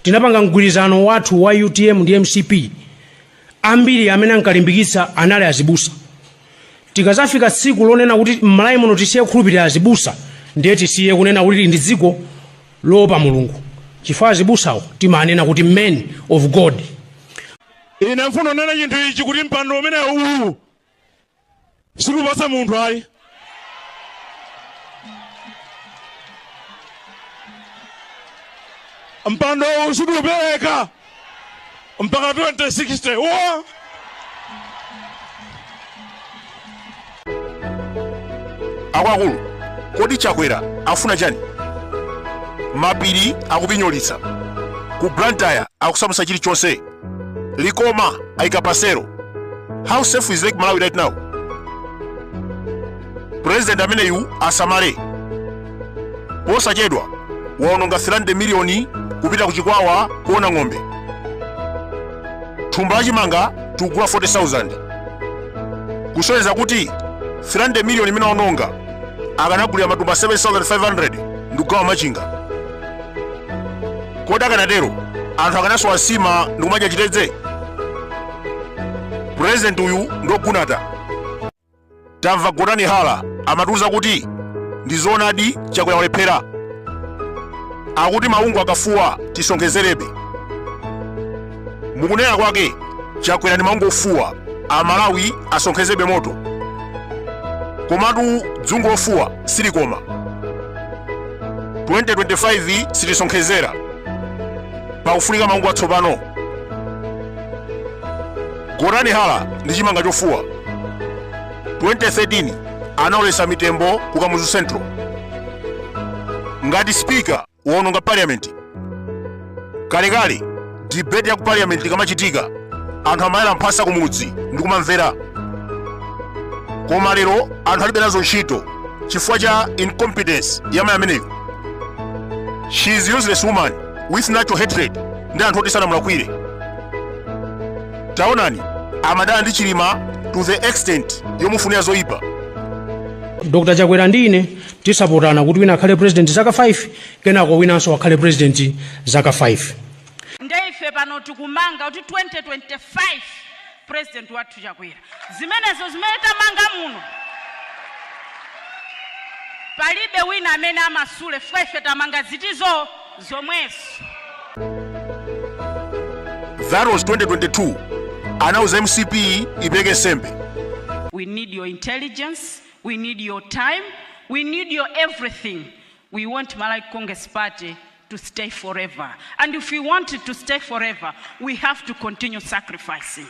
tinapanga mgwirizano wathu wa utm ndi mcp ambiri amene ankalimbikitsa anali azibusa tikazafika tsiku lonena kuti mmalawi muno tisiye kukhulupirira azibusa ndiye tisiye kunena kuti ndi dziko loopa mulungu chifukwa azibusawo timanena kuti men of god ine ndifuna ndinene chinthu ichi kuti mpando umenewu uwu sikupasa munthu ayi mpando uwu sikupereka mpaka 2060 akuluakulu kodi chakwera afuna chani mapiri akupinyolitsa ku blantyre akusamutsa chilichonse Likoma aika pasero. How safe is Lake Malawi right now? President ameneyu asamale. Posachedwa waononga 300 miliyoni kupita ku Chikwawa kuona ng'ombe. Thumba la chimanga tikugula 40,000. Kusonyeza kuti 300 miliyoni imene waononga akanagulira matumba 7,500 ndikugawa Machinga. kodi akanatero anthu akanasowa nsima ndikumadya chitedze purezidenti uyu ndogunata tamva gotani hala amatiuza kuti ndi zoonadi chakwera walephera akuti maungu akafuwa tisonkhezerabe mukunena kwake chakwera ndi maungu ofuwa amalawi asonkhezerebe moto komatu dzungu lofuwa silikoma 2025 sitisonkhezera pakufunika maungu atsopano gotani hala ndi chimanga chofuwa 2013 anaoletsa mitembo ku kamuzu central ngati spika waononga parliament kalekale debate ya ku parliament ikamachitika anthu amayala mphasa kumudzi ndi kumamvera koma lero anthu alibe nazo ntchito chifukwa cha incompetence ya mayi ameneyo she is useless woman with natural hatred ndi anthu oti sanamulakwire taonani amadana ndi chilima to the extent yomufunira zoyipa dr chakwera ndine Tisapotana kuti wina akhale president zaka 5 kenako winanso akhale president zaka 5. Nde ife pano tikumanga kuti 2025 president wathu Chakwera. Zimenezo zimene tamanga muno palibe wina amene amasule chifukwa ife tamanga zili zomwezo. That was 2022 anauza MCP ipeleke nsembe. We need your intelligence, we need your time, we need your everything, we want Malawi Congress Party to stay forever and if we want it to stay forever we have to continue sacrificing.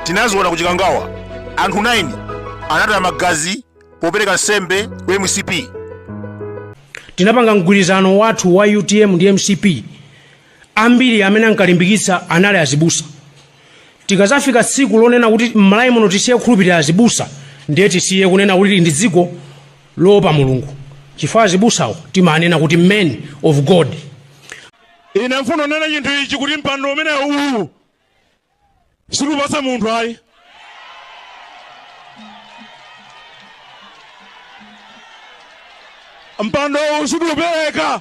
tinaziona ku chikangawa anthu 9 anataya magazi popereka nsembe ku mcp tinapanga mgwirizano wathu wa utm ndi mcp ambiri amene ankalimbikitsa anali azibusa tikazafika tsiku lonena kuti m'malawi muno tisiye kukhulupirira azibusa ndiye tisiye kunena kuti ndi dziko loopa mulungu chifukwa azibusawo timanena kuti men of god ine mfuno nena chinthu ichi kuti mpando umene uwu sitiupasa munthu ayi mpando uwu sitiupereka